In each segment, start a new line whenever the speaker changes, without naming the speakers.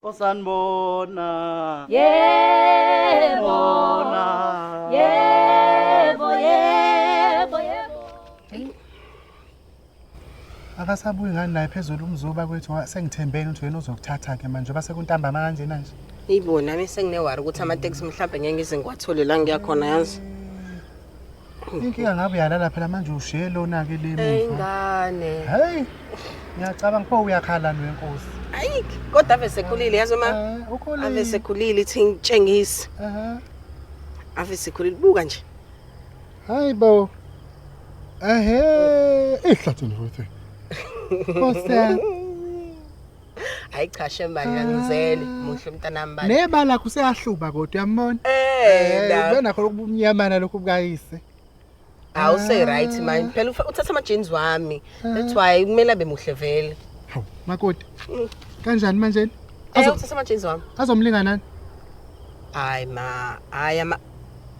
osanibona yebo
bona yebo yebo
yebo akasabuyi ngani naye phezulu umzuba kwethu wa- sengithembeni ukuthi wena uzokuthatha-ke manje oba sekuntambama kanjena nje Ibo nami
senginewari ukuthi amateksi mhlawumbe ngeke ngize ngiwathole la ngiya khona yazi.
Inkinga ngabe uyalala phela manje ushiye lona ke le Hey muva. ngane. Hey. Ngiyacabanga pho uyakhala nwe nkosi. Ayi kodwa
ave sekhulile yazi uma Eh, ukhulile. ave sekhulile
ithi
ngitshengise. Aha. Ave sekhulile buka nje. Hayi bo.
Ehe, ihlathi nje futhi. Nkosi yami.
hayi cha shemanje angizele muhle mntanami bani neba lakho useyahluba
kodwa uyambona eh, eh ubona khona ubumnyamana lokho bukayise awu
say right ah. manje phela uthatha ama jeans wami ah. that's why kumele abe muhle vele hawu makoti
mm. kanjani manje eh, uthatha ama jeans
wami azomlinga nani
hayi
ma hayi ama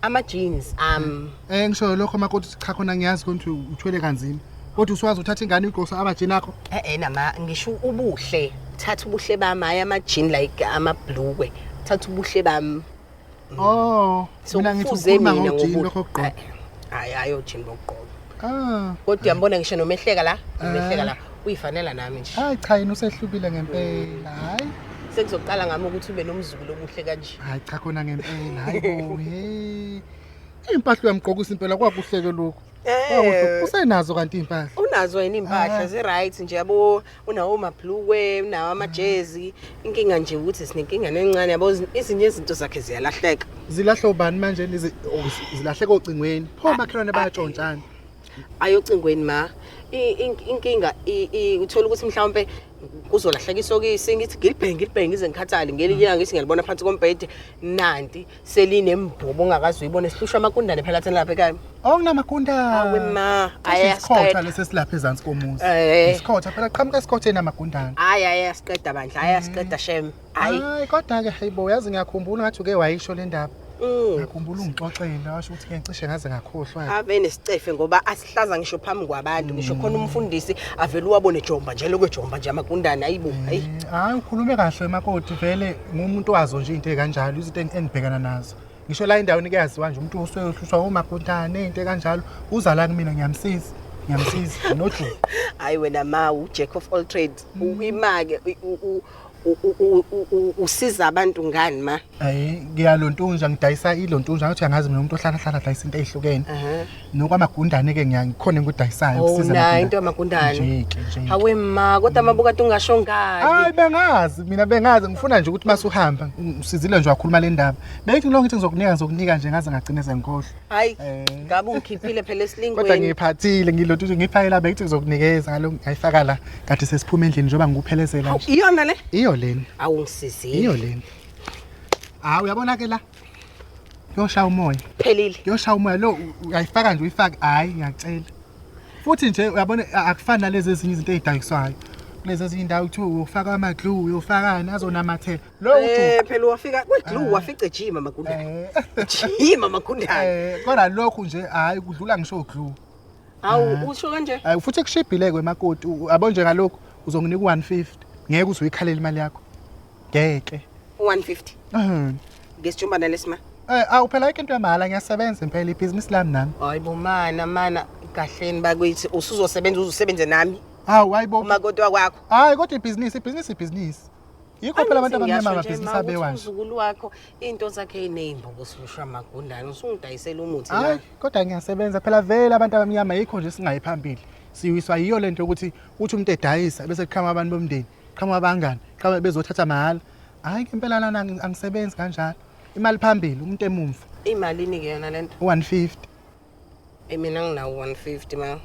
ama-jeans am Eh ngisho
lokho makoti ukuthi cha khona ngiyazi ukuthi uthwele kanzima. Kodwa uswazi uthatha ingane uyigosa abajini akho. e-e nama ngisho
ubuhle thatha ubuhle bami hhayi ama-jean like amabhlukwe thatha ubuhle bami Oh,
so mina ngithi kufuze ukhuluma mina ngojini lokho ngobuhle kugqoka. hhayi hhayi
ojini bokugqoka Ah, kodwa uyambona ngisho nomehleka la umehleka la uyifanela nami nje hayi cha yena usehlukile
ngempela. Hayi. sekuzoqala ngami
ukuthi ube nomzukulu omuhle kanje Hayi cha khona ngempela.
Hayi bo. Hey. Impahla uyamgqokisa impela kwakuhleke lokho. Kwakuhle. Usenazo kanti impahla. unazo yini iy'mpahla
Ah. zi-right nje yabo unawo amabhlukwe unawo amajezi inkinga nje ukuthi sinenkinga nencane yabo izinye izinto zakhe ziyalahleka zilahle ubani
manje lezi oh, zilahleka ocingweni pho makhelwane bayatshontshana ayocingweni
ma inkinga uthola ukuthi mhlawumbe kuzolahleka isokisi ngithi ngilibhenge ngilibhenge ngize ngikhathale ngelinye ilanga ngithi ngiyalibona phansi kombhede nanti selinembobo ongakazi uyibona esihlushwa amakundane phela thina lapha ekhaya okunamagundane awe
ma
ayasiqeda lesi
silapha ezansi komuzi eh. isikhotha phela qhamuka esikhothe namagundane hayi ayasiqeda
bandla ayasiqeda mm. shem hayi hayi kodwa
ke hayibo uyazi ngiyakhumbula ngathi uke wayisho le ndaba mm. ngakhumbula ungixoxela washo ukuthi ngicishe ngaze ngakhohlwa ave nesicefe ngoba
hlaza ngisho phambi kwabantu ngisho khona umfundisi avele uwabone jomba nje lokwe jomba nje amagundane ayibo hayi hayi ukhulume
kahle makoti vele ngumuntu wazo nje into ekanjalo izinto eng- engibhekana nazo ngisho la endaweni kuyaziwa nje umuntu usuke uhlushwa omagundane into ekanjalo uza la kumina ngiyamsiza ngiyamsiza nojuba hayi wena
ma ujack of all trades uyimake u- u- usiza abantu ngani ma hayi ngiyalontunja
ngidayisa ilontunja ngathi angazi mina umuntu ohlala hlala dayisa into ezihlukene nokwamagundane ke ngiyakhona ngikudayisayo oh, ukusiza mina into
yamagundane hawe ma kodwa mabuka tungasho ngani hayi bengazi
mina bengazi ngifuna nje ukuthi masuhamba usizile nje wakhuluma le ndaba bengithi lo ngithi ngizokunika ngizokunika nje ngaze ngagcine sengikhohlwa hayi Eh.
ngabe ungikhiphile phela kodwa esilingweni ngiyiphathile
ngilothuthi ngiyifayela bekithi ngizokunikeza ngalo ngayifaka la kade sesiphuma endlini njengoba ngikuphelezela Hawu, nje iyona le iyo leni
awu iyo
ngisizile
leni
hawu uyabona ke la kuyoshaya umoya phelile kuyoshaya umoya
lo u-
uyayifaka nje uyifake hhayi ngiyacela futhi nje uyabona a- akufani nalezi ezinye izinto ey'dayiswayo kulezi ezinye indawo kuthiwa uyofaka ama-glue uyofakani azonamathela Lo Eh ujuqu. phela wafika kwedlu
wafica ejima magundane. Eh, Jima magundane. eh, Kodwa lokhu nje
hayi kudlula ngisho uglu. Awu usho
kanje. Hayi futhi kushibhile kwe
makoti. u- Yabo nje ngalokhu uzonginika u150. Ngeke uze uyikhalele imali yakho. Ngeke. 150. Mhm.
Ngesijumbana lesima. Eh awu phela ayikho into
yamahhala ngiyasebenza impela ibhizinisi lami nami. Hayi bo mana
mana kahleni bakithi usuzosebenza uzusebenze nami Hawu hayibo. uma kodwa
kwakho.
Hayi kodwa ibhizinisi,
ibhizinisi ibhizinisi. yikho phela abantu abamnyama amabhizinisi abewa nje uzukulu wakho
into zakhe ineyimbobo silusha magundane usungidayisela umuthi hayi kodwa ngiyasebenza
phela vele abantu abamnyama yikho nje singayi phambili siwiswa yiyo lento yokuthi uthi umuntu edayisa bese kuqhama abantu bomndeni qhama abangani qhama bezothatha mahhala hayi ngempela lana angisebenzi kanjalo imali phambili umuntu emumva imalini ke yona
lento 150
Eyi
mina nginawo 150 ma.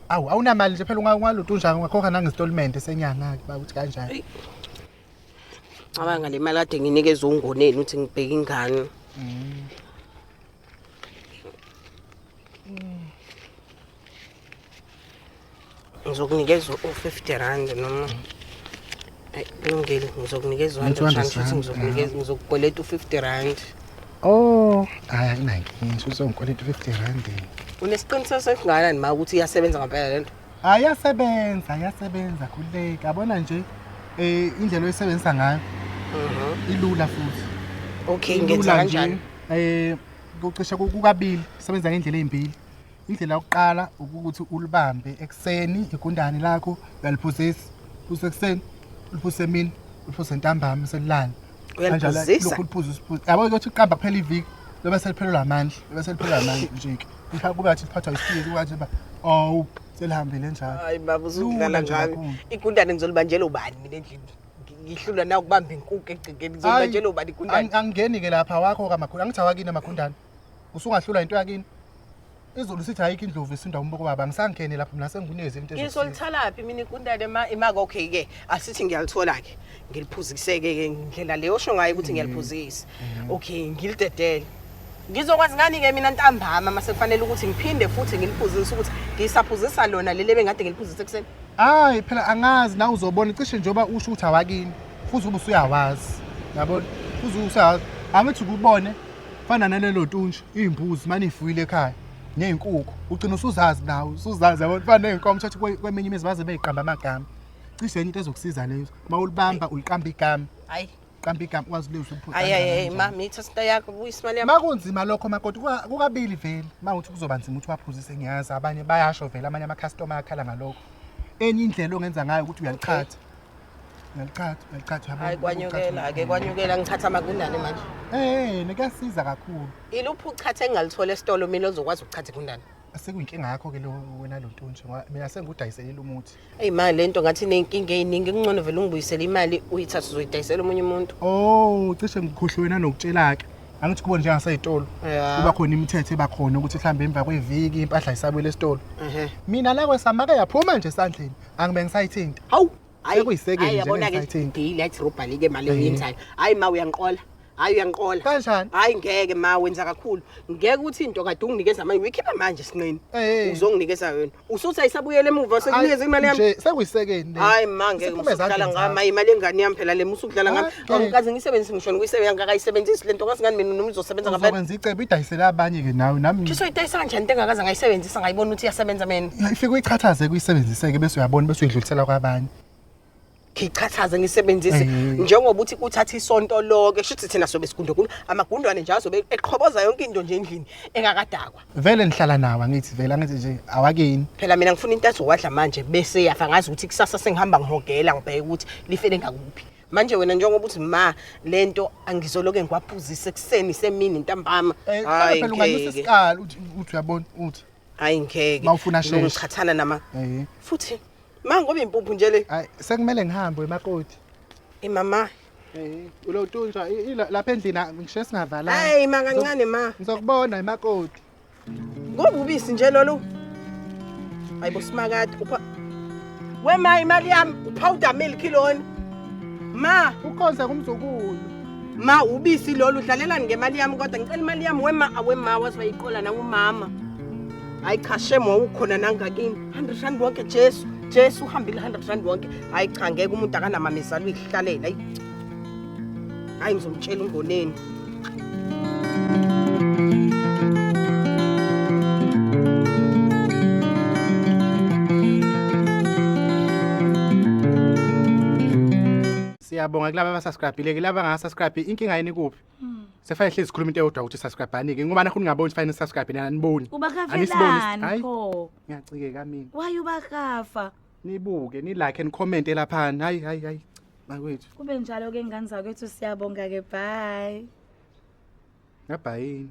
Awu awunamali
nje phela unga- ungalutho unjani ungakhokha nangesitolimende senyanga-ke uba ukuthi kanjani. Eyi. Cabanga
le mali kade nginikeza ungoneni ukuthi ngibheke ingane. ngizokunikeza u-50 rand noma kulungile ngizokunikeza ngizokukweleta u-50 rand oh
hayi akunankinga shuthi ungikweleta u-50 rand unesiqiniseko
sesingakanani ma ukuthi iyasebenza ngampela le nto ayasebenza
ayasebenza khululeka abona nje eh indlela oyisebenzisa ngayo mhm. ilula futhi okay ngenza
kanjani eh
kucisha kukabili sebenza ngendlela ezimbili Indlela yokuqala ukuthi ulibambe ekuseni igundane lakho uyaliphuzisa. Phuzisa ekuseni, uliphuzise emini, uliphuzise ntambama selilala. Uyaliphuzisa. Lokhu
uliphuza usiphuza.
Yabo ukuthi uqamba kuphela iviki lobe seliphelelwa amandla, lobe seliphelelwa amandla nje ke. Mhla kube athi liphathwa isiphiwo kuba nje ba awu selihambile njalo. Hayi baba uzudlala
ngami. Igundane ngizolibanjela ubani mina endlini? ngihlulwa na ukubamba inkuku egcekeni ngizobanjela ubani igundane angingeni-ke lapha wakho
kamakhulu angithi awakini amagundane usungahlula into yakini izulu sithi ayikho indlovu isinda umboko baba angisangene lapho mina sengunezi into iso lithalaphi mina
ikundane ma imaka okay ke asithi ngiyalithola ke ngiliphuziseke ke indlela leyo osho ngayo ukuthi ngiyaliphuzisa mm-hmm. okay ngilidedele ngizokwazi ngani ke mina ntambama mase kufanele ukuthi ngiphinde futhi ngiliphuzise ukuthi ngisaphuzisa lona leli ebengade ngiliphuzise kuseni hayi phela
angazi na uzobona cishe njengoba usho ukuthi awakini futhi ube usuyawazi yabo futhi usayazi angithi kubone fana nalelo tuntshu iy'mbuzi mane ifuyile ekhaya ney'nkukhu ugcina usuzazi nawe usuzazi yabona fana ney'nkomo thathi kweminye imizi baze beyiqamba amagama cishe enye into ezokusiza leyo uma ulibamba uliqamba igama hayi qamba
igama ukwazi
ukulizwa ukuthi hayi hayi mami ithatha
into yakho buyisa imali yami makunzima lokho makoti
kukabili vele mawuthi kuzoba nzima ukuthi waphuzise ngiyazi abanye bayasho vele amanye ama-customer akhala ngalokho enye indlela ongenza ngayo ukuthi uyalichatha Ngaliqhatha, ngaliqhatha yabo. Hayi kwanyukela,
ake kwanyukela ngiqhatha magundane manje. Eh, nekuyasiza kakhulu.
Iluphi uqhatha
engalithola esitolo mina ozokwazi ukuqhatha igundane? Sekuyinkinga yakho ke
lo wena lo ntunje ngoba mina sengikudayiselela umuthi. Eyi ma lento ngathi
inenkinga eyiningi kungcono vele ungibuyisele imali uyithathe uzoyidayisela omunye umuntu. Oh, cishe ngikhohlwe wena
nokutshela-ke. Angithi kubona njengasey'tolo. Ya. Kuba khona imithetho eba khona ukuthi mhlawumbe emva kweviki impahla isabuyela esitolo. Ehhe. Mina la kwesamake yaphuma nje esandleni. angibe ngisayithinta hawu Hayi,
Sekuyisekeni hayi, nje yabona
ke ngisayithinta. deal yathi
robhali ke mali eyenzayo hayi ma uyangiqola hayi uyangiqola Kanjani? hayi ngeke
ma
wenza kakhulu ngeke ukuthi into kade unginikeza manje uyikhipha manje sinqeni Eh. uzonginikeza yona usuthi ayisabuyele emuva sekunikeza imali yami nje sekuyisekeni
le.
hayi
ma ngeke Siphume
ezandleni musuhlala ngami zakho. hayi imali engane yami phela le musudlala ngami Angikaze ngisebenzise ngisho ngisebenza ngakayisebenzisi lento kazi ngani mina noma izosebenza ngabe. Uzokwenza icebo idayisela
abanye ke nawe nami. Chiso idayisa kanjani into
engakaze ngayisebenzisa ngayibona ukuthi iyasebenza mina. Ifike uyichathaze
kuyisebenziseke bese uyabona bese uyidlulisela kwabanye. ngichathaze
ngisebenzise Mhm. njengoba uthi uthatha isonto loke shuthi thina sobe sigundogunda amagundwane nje azobe eqhoboza yonke into nje endlini engakadakwa Vele nihlala nawe
angithi vele angithi nje awakini. phela mina ngifuna into
azowadla manje bese yafa ngazi ukuthi kusasa sengihamba ngihogela ngibheke ukuthi lifele ngakuphi manje wena njengoba uthi ma lento angizoloke ngiwaphuzise ekuseni semini ntambama Eh, hayi phela ungalisa
ngeke isikali uthi uthi uyabona uthi hayi ngeke Ma
ufuna sheshe. ngichathana
nama eh
futhi ma ngoba impuphu nje le hayi sekumele ngihambe
emakoti imama
eh
ulotunja lapha endlini ngisho singavalanga hayi ma kancane
ma ngizokubona emakoti Ngobubisi nje lolu. Hayibo simakade upha We ma imali yami upowder milk lona. Ma, ukhonze
kumzukulu ma
ubisi lolu udlalelani ngemali yami kodwa ngicela imali yami wema awema waze wayiqola nangumama. Hayi cha shem wawukhona nangakini. 100 rand wonke Jesu. Jesu uhambile 100 rand wonke. Hayi cha ngeke umuntu akanamamezalo uyihlalela. Hayi. hayi ngizomtshela ungoneni
siyabonga kulaba abasubscribile ke laba ngasubscribe inkinga yini kuphi hmm. sefane hlezi sikhuluma into eyodwa ukuthi subscribani ke ngoba nakho ningaboni sifane subscribe nina aniboni ubakafelani
pho ngiyacikeka mina
why ubakafa
nibuke
nilike and comment elaphana hayi hayi hayi bakwethu kube njalo ke ngane
zakwethu siyabonga ke bye ngabhayini